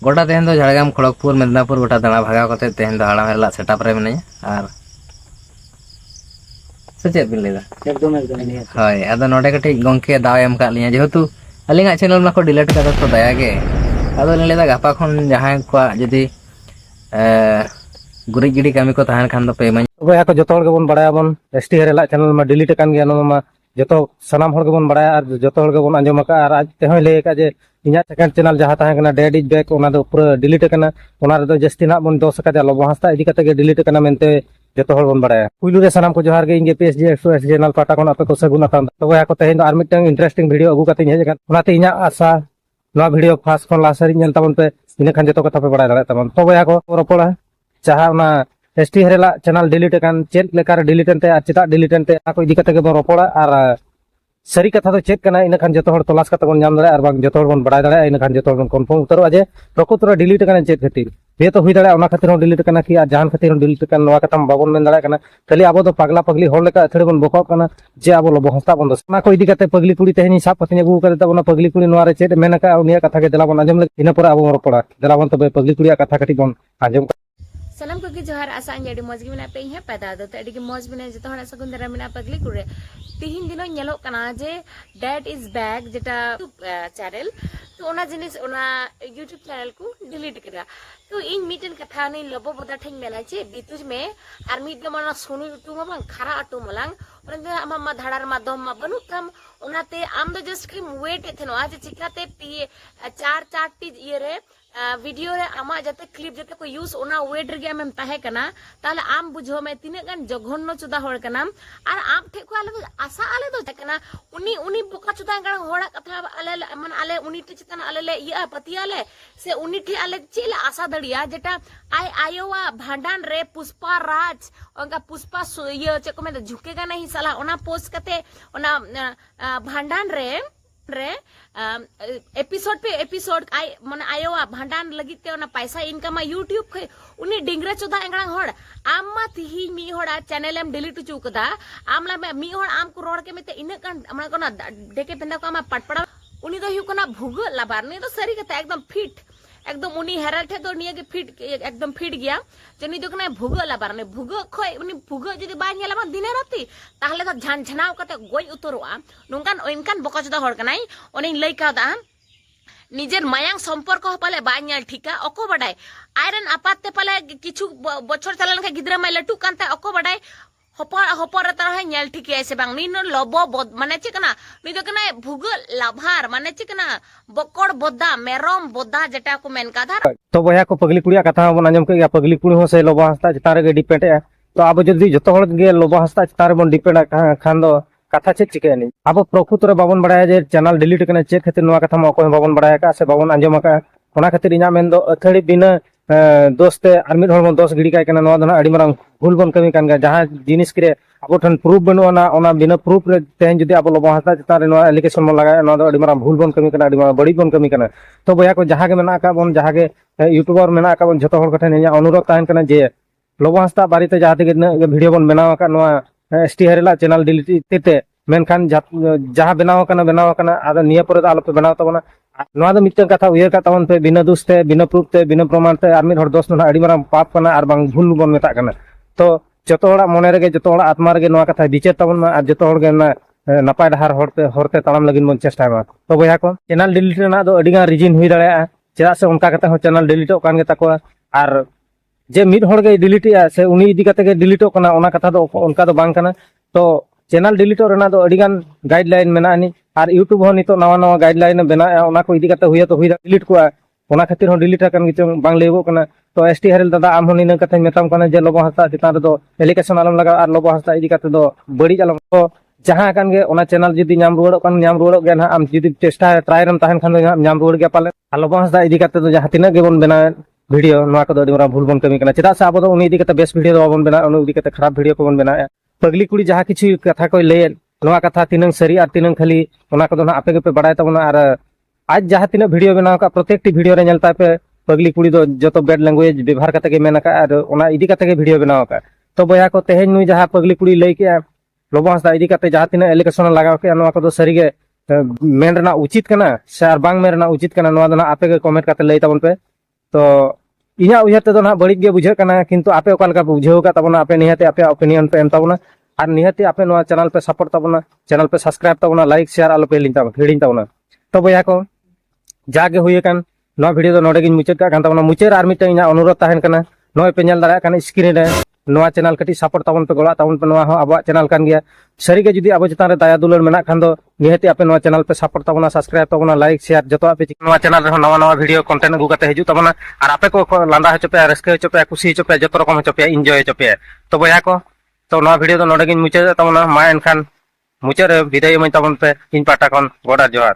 ᱜᱚᱴᱟ ᱛᱮᱦᱮᱧ ᱫᱚ ᱡᱷᱟᱲᱜᱨᱟᱢ ᱠᱷᱚᱲᱚᱜᱽᱯᱩᱨ ᱢᱮᱫᱽᱱᱟᱯᱩᱨ ᱜᱚᱴᱟ ᱫᱟᱬᱟ ᱵᱷᱟᱜᱟᱣ ᱠᱟᱛᱮ ᱛᱮᱦᱮᱧ ᱫᱚ ᱦᱟᱲᱟᱢ ᱮᱨᱞᱟᱜ ᱥᱮᱴᱟᱯ ᱨᱮ ᱢᱤᱱᱟᱹᱧᱟ ᱟᱨ ᱥᱮ ᱪᱮᱫ ᱵᱤᱱ ᱞᱟᱹᱭᱫᱟ ᱮᱠᱫᱚᱢ ᱮᱠᱫᱚᱢ ᱦᱳᱭ ᱟᱫᱚ ᱱᱚᱰᱮ ᱠᱟᱹᱴᱤᱡ ᱜᱚᱝᱠᱮ ᱫᱟᱣ ᱮᱢ ᱠᱟᱜ ᱞᱤᱧᱟ ᱡᱮᱦᱮᱛᱩ ᱟᱹᱞᱤᱧᱟᱜ ᱪᱮᱱᱮᱞ ᱢᱟᱠᱚ ᱰᱤᱞᱮᱴ ᱠᱟᱫᱟ ᱛᱚ ᱫᱟᱭᱟ ᱜᱮ ᱟᱫᱚ ᱞᱤᱧ ᱞᱟᱹᱭᱫᱟ ᱜᱟᱯᱟ ᱠᱷᱚᱱ ᱡᱟᱦᱟᱸᱭ ᱠᱚᱣᱟᱜ ᱡᱩᱫᱤ ᱜᱩᱨᱤᱡ ᱜᱤᱰᱤ ᱠᱟᱹᱢᱤ ᱠᱚ ᱛᱟᱦᱮᱱ ᱠᱷᱟᱱ ᱫᱚ ᱯᱮ ᱤᱢᱟᱹᱧ ᱵᱚᱭᱦᱟ ᱠᱚ ᱡᱚᱛᱚ ᱦᱚᱲ ᱜᱮᱵᱚᱱ ᱵᱟᱲᱟᱭᱟᱵᱚᱱ ᱮᱥᱴᱤ ᱦᱮᱨᱮᱞᱟᱜ ᱪᱮᱱᱮᱞ ᱢᱟ ᱰᱤᱞᱤᱴ ᱟᱠᱟᱱ ᱜᱮᱭᱟ ᱱᱚᱣᱟ ᱢᱟ ᱡᱚᱛᱚ ᱥᱟᱱᱟᱢ ᱦᱚᱲ ᱜᱮᱵᱚᱱ ᱵᱟᱲᱟᱭᱟ ᱟᱨ ᱡᱚᱛᱚ ᱦᱚᱲ ᱜᱮᱵᱚᱱ ᱟᱸᱡᱚᱢ ᱟᱠᱟᱫᱼᱟ ᱟᱨ ᱟᱡ ᱛᱮᱦᱚᱸᱭ ᱞᱟᱹᱭ ᱟᱠᱟᱫ ᱡᱮ ᱤᱧᱟᱹᱜ ᱥᱮᱠᱮᱱᱰ ᱪᱮᱱᱮᱞ ᱡᱟᱦᱟᱸ ᱛᱟᱦᱮᱸ ᱠᱟᱱᱟ ᱰᱮᱰ ᱤᱡ ᱵᱮᱠ ᱚᱱᱟ ᱫᱚ ᱯᱩᱨᱟᱹ ᱰᱤᱞᱤᱴ ᱟᱠᱟᱱᱟ ᱚᱱᱟ ᱨᱮᱫᱚ ᱡᱟᱹᱥᱛᱤ ᱱᱟᱜ ᱵᱚᱱ ᱫᱚᱥ ᱟᱠᱟᱫᱟ ᱞᱚᱵᱚ ᱦᱟᱸᱥᱫᱟ ᱤᱫᱤ ᱠᱟᱛᱮ ᱜᱮ ᱰᱤᱞᱤᱴ ᱟᱠᱟᱱᱟ ᱢᱮᱱᱛᱮ ᱡᱚᱛᱚ ᱦᱚᱲ ᱵᱚᱱ ᱵᱟᱲᱟᱭᱟ ᱯᱩᱭᱞᱩ ᱨᱮ ᱥᱟᱱᱟᱢ ᱠᱚ ᱡᱚᱦᱟᱨ ᱜᱮ ᱤᱧ ᱜᱮ P S G express channel ᱯᱟᱦᱴᱟ ᱠᱷᱚᱱ ᱟᱯᱮ ᱠᱚ ᱥᱟᱹᱜᱩᱱ ᱟᱠᱟᱱ ᱛᱚᱵᱮ ᱟᱠᱚ ᱛᱮᱦᱮᱧ ᱫᱚ ᱟᱨ ᱢᱤᱫᱴᱟᱝ ᱤᱱᱴᱟᱨᱮᱥᱴᱤᱝ ᱵᱷᱤᱰᱤᱭᱳ ᱟᱹᱜᱩ ᱠᱟᱛᱮᱧ ᱦᱮᱡ ᱟᱠᱟᱱ ᱚᱱᱟᱛᱮ ᱤᱧᱟᱹᱜ ᱟᱥᱟ ᱱᱚᱣᱟ ᱵᱷᱤᱰᱤᱭᱳ ᱯᱷᱟᱥᱴ ᱠᱷᱚᱱ ᱞᱟᱥᱴ ᱦᱟᱹᱨᱤᱡ ᱧᱮᱞ ᱛᱟᱵᱚᱱ ᱯᱮ ᱤᱱᱟᱹᱠᱷᱟᱱ ᱡᱚᱛᱚ ᱠᱟᱛᱷᱟ ᱯᱮ ᱵᱟᱲᱟᱭ ᱫᱟᱲᱮᱭᱟᱜ ᱛᱟᱵᱚᱱ ᱛᱚ ᱵᱚᱭᱦᱟ ᱠᱚ ᱨᱚᱯᱚᱲᱟ ᱡᱟᱦᱟᱸ ᱚᱱᱟ ᱮᱥ ᱴᱤ ᱦᱮᱨᱮᱞᱟᱜ ᱪᱮᱱᱮᱞ ᱰᱤᱞᱤᱴ ᱟᱠᱟᱱ ᱪᱮᱫ ᱞᱮᱠᱟᱨᱮ ᱰᱤᱞᱤᱴ ᱮᱱᱛᱮ ᱟᱨ ᱪᱮᱫᱟᱜ ᱰᱤᱞᱤᱴ ᱮᱱᱛᱮ ᱚᱱᱟ ᱠᱚ ᱤᱫᱤ ᱠᱟᱛᱮ ᱜᱮᱵᱚᱱ ᱨᱚᱯᱚᱲᱟ ᱟᱨ ᱥᱟᱹᱨᱤ ᱠᱟᱛᱷᱟ ᱫᱚ ᱪᱮᱫ ᱠᱟᱱᱟ ᱤᱱᱟᱹᱠᱷᱟᱱ ᱡᱚᱛᱚ ᱦᱚᱲ ᱛᱚᱞᱟᱥ ᱠᱟᱛᱮ ᱵᱚᱱ ᱧᱟᱢ ᱫᱟᱲᱮᱭᱟᱜᱼᱟ ᱟᱨ ᱵᱟᱝ ᱡᱚᱛᱚ ᱦᱚᱲ ᱵᱚᱱ ᱵᱟᱲᱟᱭ ᱫᱟᱲᱮᱭᱟᱜᱼᱟ ᱤᱱᱟᱹᱠᱷᱟᱱ ᱡᱚᱛᱚ ᱦᱚᱲ ᱵᱚᱱ ᱠᱚᱱᱯᱷᱟᱨᱢ ᱩᱛᱟᱹᱨᱚᱜᱼᱟ ᱡᱮ ᱯᱨᱚᱠᱩᱛᱚᱨᱮ ᱰᱤᱞᱤᱴ ᱟᱠᱟᱱᱟ ᱪᱮᱫ ᱠᱷᱟᱹᱛᱤᱨ ᱦᱮᱸ ᱛᱚ ᱦᱩᱭ ᱫᱟᱲᱮᱭᱟᱜᱼᱟ ᱚᱱᱟ ᱠᱷᱟᱹᱛᱤᱨ ᱦᱚᱸ ᱰᱤᱞᱤᱴ ᱠᱟᱱᱟ ᱠᱤ ᱟᱨ ᱡᱟᱦᱟᱱ ᱠᱷᱟᱹᱛᱤᱨ ᱦᱚᱸ ᱰᱤᱞᱤᱴ ᱠᱟᱱᱟ ᱱᱚᱣᱟ ᱠᱟᱛᱷᱟ ᱵᱟᱵᱚᱱ ᱢᱮᱱ ᱫᱟᱲᱮᱭᱟᱜ ᱠᱟᱱᱟ ᱠᱷᱟᱹᱞᱤ ᱟᱵᱚ ᱫᱚ ᱯᱟᱜᱽᱞᱟ ᱯᱟᱜᱽᱞᱤ ᱦᱚᱲ ᱞᱮᱠᱟ ᱟᱹᱛᱷᱟᱹᱲᱤ ᱵᱚᱱ ᱵᱚᱠᱚᱜ ᱠᱟᱱᱟ ᱡᱮ ᱟᱵᱚ ᱞᱚᱵᱚ ᱦᱟᱸᱥᱫᱟ ᱵᱚᱱ ᱫᱚᱥ ᱚᱱᱟ ᱠᱚ ᱤᱫᱤ ᱠᱟᱛᱮ ᱯᱟᱜᱽᱞᱤ ᱠᱩᱲᱤ ᱛᱮᱦᱮᱧ ᱥᱟᱵ ᱠᱟᱛᱮᱧ ᱟᱹᱜᱩ ᱠᱟᱫᱮ ᱛᱟᱵᱚᱱᱟ ᱯᱟᱜᱽᱞᱤ ᱠᱩᱲᱤ ᱱᱚᱣᱟ ᱨᱮ ᱪᱮᱫ ᱢᱮᱱ ᱟᱠᱟᱫᱼᱟ ᱩᱱᱤᱭᱟᱜ ᱠᱟᱛᱷᱟ ᱜᱮ ᱫᱮᱞᱟ ᱵᱚᱱ ᱟᱸᱡᱚᱢ ᱞᱟᱹᱜᱤᱫ ᱤᱱᱟᱹ ᱯᱚᱨᱮ ᱟᱵᱚ ᱵᱚᱱ ᱨᱚᱯᱚᱲᱟ ᱫᱮᱞᱟ ᱵᱚᱱ ᱛᱚᱵᱮ ᱯᱟᱜᱽᱞᱤ ᱠᱩᱲᱤᱭᱟᱜ ᱠᱟᱛᱷᱟ ᱠᱟᱹᱴᱤᱡ ᱵᱚᱱ ᱟᱸᱡᱚᱢ ᱥᱟᱱᱟᱢ ᱠᱚᱜᱮ ᱡᱚᱦᱟᱨ ᱟᱥᱟ ᱟᱹᱧ ᱟᱹᱰᱤ ᱢᱚᱡᱽ ᱜᱮ ᱢᱮᱱᱟᱜ ᱯᱮ ᱤᱧ ᱦᱚᱸ ᱯᱟᱭᱫᱟ ᱫᱚ ᱟᱹᱰᱤ ᱜᱮ ᱢᱚᱡᱽ ᱢᱮᱱᱟᱜᱼᱟ ᱡᱚᱛᱚ ᱦᱚᱲᱟᱜ ᱥᱟᱹᱜᱩᱱ ᱫᱟᱨᱟ ᱢᱮᱱᱟᱜᱼᱟ ᱯᱟᱜᱽᱞᱤ ᱠᱩᱲᱤ ᱛᱤᱦᱤᱧ ᱫᱤᱱᱚᱜ ᱧᱮᱞᱚᱜ ᱠᱟᱱᱟ ᱡᱮ ᱰᱮᱰ ᱤᱡ ᱵᱮᱜ ᱡᱮᱴᱟ ᱪᱟᱨᱮᱞ ᱛᱚ ᱚᱱᱟ ᱡᱤᱱᱤᱥ ᱚᱱᱟ ᱭᱩᱴᱩᱵᱽ ᱪᱮᱱᱮᱞ ᱠᱚ ᱰᱤᱞᱤᱴ ᱠᱮᱫᱟ ᱛᱚ ᱤᱧ ᱢᱤᱫᱴᱮᱱ ᱠᱟᱛᱷᱟ ᱩᱱᱤ ᱞᱚᱵᱚ ᱵᱚᱫᱟ ᱴᱷᱮᱱ ᱢᱮᱱᱟ ᱡᱮ ᱵᱤᱛᱩᱡ ᱢᱮ ᱟᱨ ᱢᱤᱫ ᱫᱚᱢ ᱚᱱᱟ ᱥᱩᱱᱩᱭ ᱩᱴᱩᱢ ᱵᱟᱝ ᱠᱷᱟᱨᱟ ᱩᱴᱩᱢ ᱟᱞᱟᱝ ᱚᱱᱟ ᱫᱚ ᱟᱢᱟᱜ ᱢᱟ ᱫᱷᱟᱲᱟᱨ ᱢᱟ ᱫᱚᱢ ᱢᱟ ᱵᱟᱹᱱᱩᱜ ᱛᱟᱢ ᱚᱱᱟᱛᱮ ᱟᱢ ᱫᱚ ᱡᱟᱥᱴ ᱠᱤᱢ ᱣᱮᱴ ᱮᱫ ᱛᱟᱦᱮᱱᱚᱜᱼᱟ ᱡᱮ ᱪᱤᱠᱟᱛᱮ ᱯᱤ ᱪᱟᱨ ᱪᱟᱨ ᱴᱤ ᱤᱭᱟᱹ ᱨᱮ ᱵᱷᱤᱰᱤᱭᱳ ᱨᱮ ᱟᱢᱟᱜ ᱡᱟᱛᱮ ᱠᱞᱤᱯ ᱡᱟᱛᱮ ᱠᱚ ᱭᱩᱡᱽ ᱚᱱᱟ ᱣᱮᱴ ᱨᱮᱜᱮ ᱟᱢᱮᱢ ᱛᱟᱦᱮᱸ ᱠᱟᱱᱟ ᱛᱟᱦᱞᱮ ᱟᱢ ᱵᱩᱡᱷᱟᱹᱣ ᱢᱮ ᱛᱤᱱᱟᱹᱜ ᱜᱟᱱ ᱡᱚᱜᱷᱚᱱᱱᱚ ᱪᱚᱫᱟ ᱦᱚᱲ ᱠᱟᱱᱟᱢ ᱟᱨ ᱟᱢ ᱴᱷᱮᱡ ᱠᱷᱚᱱ ᱟᱞᱮ ᱫᱚ ᱟᱥᱟ ᱟᱞᱮ ᱫᱚ ᱠᱟᱱᱟ ᱩᱱᱤ ᱩᱱᱤ ᱵᱚᱠᱟ ᱪᱚᱫᱟ ᱜᱟᱱ ᱦᱚᱲᱟᱜ ᱠᱟᱛᱷᱟ ᱟᱞᱮ ᱢᱟᱱᱮ ᱟᱞᱮ ᱩᱱᱤ ᱴᱷᱮᱡ ᱪᱮᱛᱟᱱ ᱟᱞᱮ ᱞᱮ ᱤᱭᱟᱹᱜᱼᱟ ᱯᱟᱹᱛᱭᱟᱹᱞᱮ ᱥᱮ ᱩᱱᱤ ᱴᱷᱮᱡ ᱟᱞᱮ ᱪᱮᱫ ᱞᱮ ᱟᱥᱟ ᱫᱟᱲᱮᱭᱟᱜᱼᱟ ᱡᱮᱴᱟ ᱟᱡ ᱟᱭᱳᱣᱟ ᱵᱷᱟᱸᱰᱟᱱ ᱨᱮ ᱯᱩᱥᱯᱟ ᱨᱟᱡᱽ ᱚᱱᱠᱟ ᱯᱩᱥᱯᱟ ᱤᱭᱟᱹ ᱪᱮᱫ ᱠᱚ ᱢᱮᱱᱟ ᱡᱷᱩᱠᱮᱜᱟ ᱱᱟᱦᱤ ᱥᱟᱞᱟ ᱚᱱᱟ ᱯᱳᱥᱴ ᱠᱟᱛᱮ ᱚᱱᱟ ᱵᱷᱟᱸᱰᱟᱱ ᱨᱮ ᱨᱮ ᱮᱯᱤᱥᱳᱰ ᱯᱮ ᱮᱯᱤᱥᱳᱰ ᱟᱡ ᱢᱟᱱᱮ ᱟᱭᱳᱣᱟᱜ ᱵᱷᱟᱸᱰᱟᱱ ᱞᱟᱹᱜᱤᱫ ᱛᱮ ᱚᱱᱟ ᱯᱟᱭᱥᱟ ᱤᱱᱠᱟᱢᱟ ᱭᱩᱴᱤᱭᱩᱵᱽ ᱠᱷᱚᱡ ᱩᱱᱤ ᱰᱤᱝᱜᱽᱨᱟ ᱪᱚᱫᱟ ᱮᱝᱲᱟᱝ ᱦᱚᱲ ᱟᱢ ᱢᱟ ᱛᱤᱦᱤᱧ ᱢᱤᱫ ᱦᱚᱲ ᱟᱨ ᱪᱮᱱᱮᱞ ᱮᱢ ᱰᱤᱞᱤᱴ ᱦᱚᱪᱚ ᱠᱟᱫᱟ ᱟᱢ ᱞᱟᱢᱮ ᱢᱤᱫ ᱦᱚᱲ ᱟᱢ ᱠᱚ ᱨᱚᱲ ᱠᱮᱫ ᱢᱮᱛᱮ ᱤᱱᱟᱹᱜ ᱜᱟᱱ ᱢᱟᱱᱮ ᱠᱚᱱᱟ ᱰᱮᱠᱮ ᱵᱷᱮᱸᱫᱟ ᱠᱚ ᱟᱢᱟᱜ ᱯᱟᱴᱯᱟᱲᱟ ᱩᱱᱤ ᱫᱚ ᱦᱩᱭᱩᱜ ᱠᱟᱱᱟ ᱵᱷᱩᱜᱟᱹᱜ ᱞᱟᱵᱟᱨ ᱱᱤᱭᱟᱹ ᱫᱚ ᱥᱟᱹᱨᱤ ᱠᱟᱛᱷᱟ ᱮᱠᱫᱚᱢ ᱯᱷᱤᱴ ᱮᱠᱫᱚᱢ ᱩᱱᱤ ᱦᱮᱨᱟᱞ ᱴᱷᱮᱡ ᱫᱚ ᱱᱤᱭᱟᱹ ᱜᱮ ᱯᱷᱤᱴ ᱮᱠᱫᱚᱢ ᱯᱷᱤᱴ ᱜᱮᱭᱟ ᱡᱮ ᱱᱩᱭ ᱫᱚ ᱠᱟᱱᱟᱭ ᱵᱷᱩᱜᱟᱹᱜ ᱞᱟᱵᱟᱨ ᱩᱱᱤ ᱵᱷᱩᱜᱟᱹᱜ ᱠᱷᱚᱡ ᱩᱱᱤ ᱵᱷᱩᱜᱟᱹᱜ ᱡᱩᱫᱤ ᱵᱟᱭ ᱧᱮᱞᱟ ᱵᱟᱝ ᱫᱤᱱᱮ ᱨᱟᱛᱤ ᱛᱟᱦᱞᱮ ᱫᱚ ᱡᱷᱟᱱ ᱡᱷᱟᱱᱟᱣ ᱠᱟᱛᱮ ᱜᱚᱡ ᱩᱛᱟᱹᱨᱚᱜᱼᱟ ᱱᱚᱝᱠᱟᱱ ᱚᱱᱠᱟᱱ ᱵᱚᱠᱟ ᱪᱚᱫᱟ ᱦᱚᱲ ᱠᱟᱱᱟᱭ ᱚᱱᱮᱧ ᱞᱟᱹᱭ ᱠᱟᱣᱫᱟ ᱱᱤᱡᱮᱨ ᱢᱟᱭᱟᱝ ᱥᱚᱢᱯᱚᱨᱠᱚ ᱦᱚᱸ ᱯᱟᱞᱮ ᱵᱟᱭ ᱧᱮᱞ ᱴᱷᱤᱠᱟ ᱚᱠᱚ ᱵᱟᱰᱟᱭ ᱟᱭᱨᱮᱱ ᱟᱯᱟᱛ ᱛᱮ ᱯᱟᱞᱮ ᱠᱤᱪᱷᱩ ᱵᱚᱪᱷᱚᱨ ᱪᱟᱞᱟᱣ ᱞᱮᱱᱠᱷᱟᱱ ᱜᱤᱫᱽᱨᱟᱹ ᱢᱟᱭ ᱞᱟᱹᱴᱩᱜ ᱠᱟᱱ ᱛᱟᱭ ᱚᱠᱚ ᱵᱟᱰᱟᱭ ᱦᱚᱯᱚᱱ ᱦᱚᱯᱚᱱ ᱨᱮ ᱛᱟᱨᱦᱚᱸ ᱧᱮᱞ ᱴᱷᱤᱠᱮᱭᱟᱭ ᱥᱮ ᱵᱟᱝ ᱱᱩᱭ ᱱᱚ ᱞᱚᱵᱚ ᱢᱟᱱᱮ ᱪᱮᱫ ᱠᱟᱱᱟ ᱱᱩᱭ ᱫᱚ ᱠᱟᱱᱟᱭ ᱵᱷᱩᱜᱟᱹᱜ ᱞᱟᱵᱷᱟᱨ ᱢᱟᱱᱮ ᱪᱮᱫ ᱠᱟᱱᱟ ᱵᱚᱠᱚᱲ ᱵᱚᱫᱟ ᱢᱮᱨᱚᱢ ᱵᱚᱫᱟ ᱡᱮᱴᱟ ᱠᱚ ᱢᱮᱱ ᱠᱟᱫᱟ ᱛᱚ ᱵᱚᱭᱦᱟ ᱠᱚ ᱯᱟᱜᱞᱤ ᱠᱩᱲᱤᱭᱟᱜ ᱠᱟᱛᱷᱟ ᱦᱚᱸ ᱵᱚᱱ ᱟᱸᱡᱚᱢ ᱠᱮᱫ ᱜᱮᱭᱟ ᱯᱟᱜᱞᱤ ᱠᱩᱲᱤ ᱦᱚᱸ ᱥᱮ ᱞᱚᱵᱚ ᱦᱟᱸᱥᱫᱟ ᱪᱮᱛᱟᱱ ᱨᱮᱜᱮ ᱰᱤᱯᱮᱱᱰ ᱮᱜᱼᱟ ᱛᱚ ᱟᱵᱚ ᱡᱩᱫᱤ ᱡᱚᱛᱚ ᱦᱚᱲ ᱜᱮ ᱞᱚᱵᱚ ᱦᱟᱸᱥᱫᱟ ᱪᱮᱛᱟᱱ ᱨᱮᱵᱚᱱ ᱰᱤᱯᱮᱱᱰ ᱠᱷᱟᱱ ᱫᱚ ᱠᱟᱛᱷᱟ ᱪᱮᱫ ᱪᱤᱠᱟᱹᱭᱟ ᱱᱤᱡ ᱟᱵᱚ ᱯᱨᱚᱠᱩᱛ ᱨᱮ ᱵᱟᱵᱚᱱ ᱵᱟᱲᱟᱭᱟ ᱡᱮ ᱪᱮᱱᱟᱞ ᱰᱤᱞᱤᱴ ᱠᱟᱱᱟ ᱪᱮᱫ ᱠᱷᱟᱹᱛᱤᱨ ᱱᱚᱣᱟ ᱠᱟᱛᱷᱟ ᱢᱟ ᱚᱠᱚᱭ ᱦᱚᱸ ᱵᱟᱵᱚᱱ ᱵᱟᱲᱟᱭ ᱟᱠᱟᱫ ᱥᱮ ᱵᱟᱵᱚᱱ ᱟᱸᱡᱚᱢ ᱟᱠᱟᱫ ᱚᱱᱟ ᱠᱷᱟᱹᱛᱤᱨ ᱤᱧᱟᱹᱜ ᱢᱮᱱ ᱫᱚ ᱟᱹᱛᱷᱟᱹᱲᱤ ᱵᱤᱱᱟᱹ ᱫᱳᱥ ᱛᱮ ᱟᱨ ᱢᱤᱫ ᱦᱚᱲ ᱵᱚᱱ ᱫᱳᱥ ᱜᱤᱰᱤ ᱠᱟᱭ ᱠᱟᱱᱟ ᱱᱚᱣᱟ ᱫᱚ ᱱᱟᱜ ᱟᱹᱰᱤ ᱢᱟᱨᱟᱝ ᱵᱷᱩᱞ ᱵᱚᱱ ᱠᱟᱹᱢᱤ ᱠᱟᱱ ᱜᱮᱭᱟ ᱡᱟᱦᱟᱸ ᱡᱤᱱᱤᱥ ᱠᱚᱨᱮ ᱟᱵᱚ ᱴᱷᱮᱱ ᱯᱨᱩᱯ ᱵᱟᱹᱱᱩᱜᱼᱟ ᱱᱟ ᱚᱱᱟ ᱵᱤᱱᱟᱹ ᱯᱨᱩᱯ ᱨᱮ ᱛᱮᱦᱮᱧ ᱡᱩᱫᱤ ᱟᱵᱚ ᱞᱚᱵᱚ ᱦᱟᱸᱥᱫᱟ ᱪᱮᱛᱟᱱ ᱨᱮ ᱱᱚᱣᱟ ᱮᱞᱤᱜᱮᱥᱚᱱ ᱵᱚᱱ ᱞᱟᱜᱟᱭᱟ ᱱᱚᱣᱟ ᱫᱚ ᱟᱹᱰᱤ ᱢᱟᱨᱟᱝ ᱵᱷᱩᱞ ᱵᱚᱱ ᱠᱟᱹᱢᱤ ᱠᱟᱱᱟ ᱟᱹᱰᱤ ᱢᱟᱨᱟᱝ ᱵᱟᱹᱲᱤᱡ ᱵᱚᱱ ᱠᱟᱹᱢᱤ ᱠᱟᱱᱟ ᱛᱚ ᱵᱚᱭᱦᱟ ᱠᱚ ᱡᱟᱦᱟᱸ ᱜᱮ ᱢᱮᱱᱟᱜ ᱟᱠᱟᱫ ᱵᱚᱱ ᱡᱟᱦᱟᱸ ᱜᱮ ᱤᱭᱩᱴᱩᱵᱟᱨ ᱢᱮᱱᱟᱜ ᱟᱠᱟᱫ ᱵᱚᱱ ᱡᱷᱚᱛᱚ ᱦᱚᱲ ᱠᱚᱴᱷᱮᱱ ᱤᱧᱟᱹᱜ ᱚᱱᱩᱨᱳᱫᱷ ᱛᱟᱦᱮᱱ ᱠᱟᱱᱟ ᱡᱮ ᱞᱚᱵᱚ ᱦᱟᱸᱥᱫᱟ ᱵᱟᱨᱮᱛᱮ ᱡᱟᱦᱟᱸ ᱛᱮᱜᱮ ᱛᱤᱱᱟᱹᱜ ᱜᱮ ᱵᱷᱤᱰᱤᱭᱳ ᱵᱚᱱ ᱵᱮᱱᱟᱣ ᱟᱠᱟᱫ ᱱᱚᱣᱟ ᱮᱥ ᱴᱤ ᱦᱟᱨᱮᱞᱟᱜ ᱪᱮᱱᱮᱞ ᱰᱤᱞᱤᱴ ᱤᱫᱤ ᱛᱮ ᱢᱮᱱᱠᱷᱟᱱ ᱡᱟᱦᱟᱸ ᱵᱮᱱᱟᱣ ᱟᱠᱟᱱᱟ ᱵᱮᱱᱟᱣ ᱟᱠᱟᱱᱟ ᱟᱫᱚ ᱱᱤᱭᱟᱹ ᱯᱚᱨᱮ ᱫᱚ ᱟᱞᱚᱯᱮ ᱵᱮᱱᱟᱣ ᱛᱟᱵᱚᱱᱟ ᱱᱚᱣᱟ ᱫᱚ ᱢᱤᱫᱴᱟᱝ ᱠᱟᱛᱷᱟ ᱩᱭᱦᱟᱹᱨ ᱠᱟᱜ ᱛᱟᱵᱚᱱ ᱯᱮ ᱵᱤᱱᱟᱹ ᱫᱩᱥ ᱛᱮ ᱵᱤᱱᱟᱹ ᱯᱨᱩᱯ ᱛᱮ ᱵᱤᱱᱟᱹ ᱯᱨᱚᱢᱟण ᱛᱮ ᱟᱨ ᱢᱤᱫ ᱦᱚᱲ ᱫᱚᱥ ᱫᱚ ᱱᱟᱦᱟᱜ ᱟᱹᱰᱤ ᱢᱟᱨᱟᱝ ᱯᱟᱯ ᱠᱟᱱᱟ ᱟᱨ ᱵᱟᱝ ᱵᱷᱩᱞ ᱵᱚᱱ ᱢᱮᱛᱟᱜ ᱠᱟᱱᱟ ᱛᱚ ᱡᱚᱛᱚ ᱦᱚᱲᱟᱜ ᱢᱚᱱᱮ ᱨᱮᱜᱮ ᱡᱚᱛᱚ ᱦᱚᱲᱟᱜ ᱟᱛᱢᱟ ᱨᱮᱜᱮ ᱱᱚᱣᱟ ᱠᱟᱛᱷᱟ ᱵᱤᱪᱟᱹᱨ ᱛᱟᱵᱚᱱ ᱢᱟ ᱟᱨ ᱡᱚᱛᱚ ᱦᱚᱲ ᱜᱮ ᱚᱱᱟ ᱱᱟᱯᱟᱭ ᱰᱟᱦᱟᱨ ᱦᱚᱲᱛᱮ ᱦᱚᱨᱛᱮ ᱛᱟᱲᱟᱢ ᱞᱟᱹᱜᱤᱫ ᱵᱚᱱ ᱪᱮᱥᱴᱟᱭ ᱢᱟ ᱛᱚ ᱵᱚᱭᱦᱟ ᱠᱚ ᱪᱮᱱᱮᱞ ᱰᱤᱞᱤᱴ ᱨᱮᱱᱟᱜ ᱫᱚ ᱟᱹᱰᱤ ᱜᱟᱱ ᱨᱤᱡᱤᱱ ᱦᱩᱭ ᱫᱟᱲᱮᱭᱟᱜᱼᱟ ᱪᱮᱫᱟᱜ ᱥᱮ ᱚᱱᱠᱟ ᱠᱟᱛᱮ ᱦᱚᱸ ᱪᱮᱱᱮᱞ ᱰᱤᱞᱤᱴᱚᱜ ᱠᱟᱱ ᱜᱮᱛᱟ ᱠᱚᱣᱟ ᱟᱨ ᱡᱮ ᱢᱤᱫ ᱦᱚᱲ ᱜᱮ ᱰᱤᱞᱤᱴ ᱮᱜᱼᱟ ᱥᱮ ᱩᱱᱤ ᱤᱫᱤ ᱠᱟᱛᱮ ᱜᱮ ᱰᱤᱞᱤᱴᱚᱜ ᱠᱟᱱᱟ ᱚᱱᱟ ᱠᱟᱛᱷᱟ ᱫᱚ ᱚᱱᱠᱟ ᱫᱚ ᱵᱟᱝ ᱠᱟᱱᱟ ᱛᱚ ᱪᱮᱱᱮᱞ ᱰᱤᱞᱤᱴᱚᱜ ᱨᱮᱱᱟᱜ ᱫᱚ ᱟᱹᱰᱤ ᱜᱟᱱ ᱜᱟᱭᱤᱰᱞᱟᱭᱤᱱ ᱢᱮᱱᱟᱜ ᱟᱹᱱᱤᱡ ᱟᱨ ᱤᱭᱩᱴᱩᱵᱽ ᱦᱚᱸ ᱱᱤᱛᱚᱜ ᱱᱟᱣᱟ ᱱᱟᱣᱟ ᱜᱟᱭᱤᱰᱞᱟᱭᱤᱱ ᱵᱮᱱᱟᱣᱮᱜᱼᱟ ᱚᱱᱟ ᱠᱚ ᱤᱫᱤ ᱠᱟᱛᱮ ᱦᱩᱭ ᱦᱚᱸᱛᱚ ᱦᱩᱭ ᱫᱟᱲᱮᱭᱟᱜᱼᱟ ᱰᱤᱞᱤᱴ ᱠᱚᱜᱼᱟ ᱚᱱᱟ ᱠᱷᱟᱹᱛᱤᱨ ᱦᱚᱸ ᱰᱤᱞᱤᱴ ᱟᱠᱟᱱ ᱜᱮᱪᱚᱝ ᱵᱟᱝ ᱞᱟᱹᱭᱚᱜᱚᱜ ᱠᱟᱱᱟ ᱛᱚ ᱮᱥ ᱴᱤ ᱦᱮᱨᱮᱞ ᱫᱟᱫᱟ ᱟᱢ ᱦᱚᱸ ᱱᱤᱱᱟᱹ ᱠᱟᱛᱷᱟᱧ ᱢᱮᱛᱟᱢ ᱠᱟᱱᱟ ᱡᱮ ᱞᱚᱵᱚ ᱦᱟᱸᱥᱫᱟ ᱪᱮᱛᱟᱱ ᱨᱮᱫᱚ ᱮᱞᱤᱠᱮᱥᱚᱱ ᱟᱞᱚᱢ ᱞᱟᱜᱟᱣ ᱟᱨ ᱞᱚᱵᱚ ᱦᱟᱸᱥᱫᱟ ᱤᱫᱤ ᱠᱟᱛᱮ ᱫᱚ ᱵᱟᱹᱲᱤᱡ ᱟᱞᱚᱢ ᱛᱚ ᱡᱟᱦᱟᱸ ᱟᱠᱟᱱ ᱜᱮ ᱚᱱᱟ ᱪᱮᱱᱮᱞ ᱡᱩᱫᱤ ᱧᱟᱢ ᱨᱩᱣᱟᱹᱲᱚᱜ ᱠᱟᱱ ᱧᱟᱢ ᱨᱩᱣᱟᱹᱲᱚᱜ ᱜᱮᱭᱟ ᱱᱟᱦᱟᱜ ᱟᱢ ᱡᱩᱫᱤ ᱪᱮᱥᱴᱟ ᱴᱨᱟᱭ ᱨᱮᱢ ᱛᱟᱦᱮᱱ ᱠᱷᱟᱱ ᱫᱚ ᱧᱟᱢ ᱨᱩᱣᱟᱹᱲ ᱜᱮᱭᱟ ᱯᱟᱞᱮ ᱟᱨ ᱞᱚᱵᱚ ᱦᱟᱸᱥᱫᱟ ᱤᱫᱤ ᱠᱟᱛᱮ ᱫᱚ ᱡᱟᱦᱟᱸ ᱛᱤᱱᱟᱹᱜ ᱜᱮᱵᱚᱱ ᱵᱮᱱᱟᱣᱮᱫ ᱵᱷᱤᱰᱤᱭᱳ ᱱᱚᱣᱟ ᱠᱚᱫᱚ ᱟᱹᱰᱤ ᱢᱟᱨᱟᱝ ᱵᱷᱩᱞ ᱵᱚᱱ ᱠᱟᱹᱢᱤ ᱠᱟᱱᱟ ᱪᱮᱫᱟᱜ ᱥᱮ ᱟᱵᱚ ᱫᱚ ᱩᱱᱤ ᱤᱫᱤ ᱠᱟᱛᱮ ᱵᱮᱥ ᱵᱷᱤᱰᱤᱭᱳ ᱫᱚ ᱵᱟᱵᱚᱱ ᱵᱮᱱᱟᱣᱟ ᱩᱱᱤ ᱤᱫᱤ ᱠᱟᱛᱮ ᱠᱷᱟᱨᱟᱯ ᱵᱷᱤᱰᱤᱭᱳ ᱠᱚᱵᱚᱱ ᱵᱮᱱᱟᱣᱮᱫᱼᱟ ᱯᱟᱜᱽᱞᱤ ᱠᱩᱲᱤ ᱡᱟᱦᱟᱸ ᱠᱤᱪᱷᱩ ᱠᱟᱛᱷᱟ ᱠᱚᱭ ᱞᱟᱹᱭᱮᱫ ᱱᱚᱣᱟ ᱠᱟᱛᱷᱟ ᱛᱤᱱᱟᱹᱝ ᱥᱟᱹᱨᱤ ᱟᱨ ᱛᱤᱱᱟᱹᱝ ᱠᱷᱟᱹᱞᱤ ᱚᱱᱟ ᱠᱚᱫᱚ ᱱᱟᱜ ᱟᱯᱮ ᱜᱮᱯᱮ ᱵᱟᱲᱟᱭ ᱛᱟᱵᱚᱱᱟ ᱟᱨ ᱟᱡ ᱡᱟᱦᱟᱸ ᱛᱤᱱᱟᱹᱜ ᱵᱷᱤᱰᱤᱭᱳ ᱵᱮᱱᱟᱣ ᱟᱠᱟᱫ ᱯᱨᱚᱛᱮᱠᱴᱤ ᱵᱷᱤᱰᱤᱭᱳ ᱨᱮ ᱧᱮᱞ ᱛᱟᱭ ᱯᱮ ᱯᱟᱜᱽᱞᱤ ᱠᱩᱲᱤ ᱫᱚ ᱡᱚᱛᱚ ᱵᱮᱰ ᱞᱮᱝᱜᱩᱭᱮᱡᱽ ᱵᱮᱵᱷᱟᱨ ᱠᱟᱛᱮ ᱜᱮ ᱢᱮᱱ ᱟᱠᱟᱫᱼᱟ ᱟᱨ ᱚᱱᱟ ᱤᱫᱤ ᱠᱟᱛᱮ ᱜᱮ ᱵᱷᱤᱰᱤᱭᱳ ᱵᱮᱱᱟᱣ ᱟᱠᱟᱫᱼᱟ ᱛᱚ ᱵᱚᱭᱦᱟ ᱠᱚ ᱛᱮᱦᱮᱧ ᱱᱩᱭ ᱡᱟᱦᱟᱸ ᱯᱟᱜᱽᱞᱤ ᱠᱩᱲᱤ ᱞᱟᱹᱭ ᱠᱮᱫᱼᱟ ᱞᱚᱵᱚ ᱦᱟᱸᱥᱫᱟ ᱤᱫᱤ ᱠᱟᱛᱮ ᱡᱟᱦᱟᱸ ᱛᱤᱱᱟᱹᱜ ᱮᱞᱤᱜᱮᱥᱚᱱ ᱮ ᱞᱟᱜᱟᱣ ᱠᱮᱜᱼᱟ ᱱᱚᱣᱟ ᱠᱚᱫᱚ ᱥᱟᱹᱨᱤᱜᱮ ᱢᱮᱱ ᱨᱮᱱᱟᱜ ᱩᱪᱤᱛ ᱠᱟᱱᱟ ᱥᱮ ᱟᱨ ᱵᱟᱝ ᱢᱮᱱ ᱨᱮᱱᱟᱜ ᱩᱪᱤᱛ ᱠᱟᱱᱟ ᱱᱚᱣᱟ ᱫᱚ ᱱᱟᱜ ᱟᱯᱮ ᱜᱮ ᱠᱚᱢᱮᱱᱴ ᱠᱟᱛᱮ ᱞᱟᱹᱭ ᱛᱟᱵᱚᱱ ᱯᱮ ᱛᱚ ᱤᱧᱟᱹᱜ ᱩᱭᱦᱟᱹᱨ ᱛᱮᱫᱚ ᱱᱟᱜ ᱵᱟᱹᱲᱤᱡ ᱜᱮ ᱵᱩᱡᱷᱟᱹᱜ ᱠᱟᱱᱟ ᱠᱤᱱᱛᱩ ᱟᱯᱮ ᱚᱠᱟ ᱞᱮᱠᱟ ᱯᱮ ᱵᱩᱡᱷᱟᱹᱣ ᱟᱠᱟᱫ ᱛᱟᱵᱚᱱᱟ ᱟᱯᱮ ᱱᱤᱦᱟᱹᱛ ᱟᱯᱮᱭᱟᱜ ᱚᱯᱤᱱᱤᱭᱚᱱ ᱯᱮ ᱮᱢ ᱛᱟᱵᱚᱱᱟ ᱟᱨ ᱱᱤᱦᱟᱹᱛ ᱟᱯᱮ ᱱᱚᱣᱟ ᱪᱮᱱᱮᱞ ᱯᱮ ᱥᱟᱯᱳᱨᱴ ᱛᱟᱵᱚᱱᱟ ᱪᱮᱱᱮᱞ ᱯᱮ ᱥᱟᱵᱥᱠᱨᱟᱭᱤᱵ ᱛᱟᱵᱚᱱᱟ ᱞᱟᱭᱤᱠ ᱥᱮᱭᱟᱨ ᱟᱞᱚ ᱯᱮ ᱦᱤᱲᱤᱧ ᱛᱟᱵᱚᱱᱟ ᱛᱚ ᱵᱚᱭᱦᱟ ᱠᱚ ᱡᱟᱜᱮ ᱦᱩᱭ ᱟᱠᱟᱱ ᱱᱚᱣᱟ ᱵᱷᱤᱰᱤᱭᱳ ᱫᱚ ᱱᱚᱰᱮ ᱜᱤᱧ ᱢᱩᱪᱟᱹᱫ ᱠᱟᱜ ᱠᱟᱱ ᱛᱟᱵᱚᱱᱟ ᱢᱩᱪᱟᱹᱫ ᱟᱨ ᱢᱤᱫᱴᱟᱝ ᱤᱧᱟᱹᱜ ᱚᱱᱩᱨᱳᱫᱷ ᱛᱟᱦᱮᱱ ᱠᱟᱱᱟ ᱱᱚᱜᱼᱚᱭ ᱯᱮ ᱧᱮᱞ ᱫᱟᱲᱮᱭᱟᱜ ᱠᱟᱱᱟ ᱥᱠᱨᱤᱱ ᱨᱮ ᱱᱚᱣᱟ ᱪᱮᱱᱮᱞ ᱠᱟᱹᱴᱤᱡ ᱥᱟᱯᱳᱨᱴ ᱛᱟᱵᱚᱱ ᱯᱮ ᱜᱚᱲᱚ ᱛᱟᱵᱚᱱ ᱯᱮ ᱱᱚᱣᱟ ᱦᱚᱸ ᱟᱵᱚᱣᱟᱜ ᱪᱮᱱᱮᱞ ᱠᱟᱱ ᱜᱮᱭᱟ ᱥᱟᱹᱨᱤᱜᱮ ᱡᱩᱫᱤ ᱟᱵᱚ ᱪᱮᱛᱟᱱ ᱨᱮ ᱫᱟᱭᱟ ᱫᱩᱞᱟᱹᱲ ᱢᱮᱱᱟᱜ ᱠᱷᱟᱱ ᱫᱚ ᱱᱤᱦᱟᱹᱛᱤ ᱟᱯᱮ ᱱᱚᱣᱟ ᱪᱮᱱᱮᱞ ᱯᱮ ᱥᱟᱯᱳᱨᱴ ᱛᱟᱵᱚᱱᱟ ᱥᱟᱵᱥᱠᱨᱟᱭᱤᱵ ᱛᱟᱵᱚᱱᱟ ᱞᱟᱭᱤᱠ ᱥᱮᱭᱟᱨ ᱡᱚᱛᱚᱣᱟᱜ ᱯᱮ ᱱᱚᱣᱟ ᱪᱮᱱᱮᱞ ᱨᱮᱦᱚᱸ ᱱᱟᱣᱟ ᱱᱟᱣᱟ ᱵᱷᱤᱰᱤᱭᱳ ᱠᱚᱱᱴᱮᱱᱴ ᱟᱹᱜᱩ ᱠᱟᱛᱮ ᱦᱤᱡᱩᱜ ᱛᱟᱵᱚᱱᱟ ᱟᱨ ᱟᱯᱮ ᱠᱚ ᱞᱟᱸᱫᱟ ᱦᱚᱪᱚ ᱯᱮᱭᱟ ᱨᱟᱹᱥᱠᱟᱹ ᱦᱚᱪᱚ ᱯᱮᱭᱟ ᱠᱩᱥᱤ ᱦᱚᱪᱚ ᱯᱮᱭᱟ ᱡᱚᱛᱚ ᱨᱚᱠᱚᱢ ᱦᱚᱪᱚ ᱯᱮᱭᱟ ᱤᱱᱡᱚᱭ ᱦᱚᱪᱚ ᱯᱮᱭᱟ ᱛᱚ ᱵᱚᱭᱦᱟ ᱠᱚ ᱛᱚ ᱱᱚᱣᱟ ᱵᱷᱤᱰᱤᱭᱳ ᱫᱚ ᱱᱚᱰᱮ ᱜᱤᱧ ᱢᱩᱪᱟᱹᱫ ᱛᱟᱵᱚᱱᱟ ᱢᱟ ᱮᱱᱠᱷᱟᱱ ᱢᱩᱪᱟᱹᱫ ᱨᱮ ᱵᱤᱫᱟᱹᱭ ᱮᱢᱟᱹᱧ ᱛᱟᱵᱚᱱ ᱯᱮ ᱤᱧ ᱯᱟᱦᱴᱟ ᱠᱷᱚᱱ ᱜᱚᱰᱟ ᱡᱚᱦᱟᱨ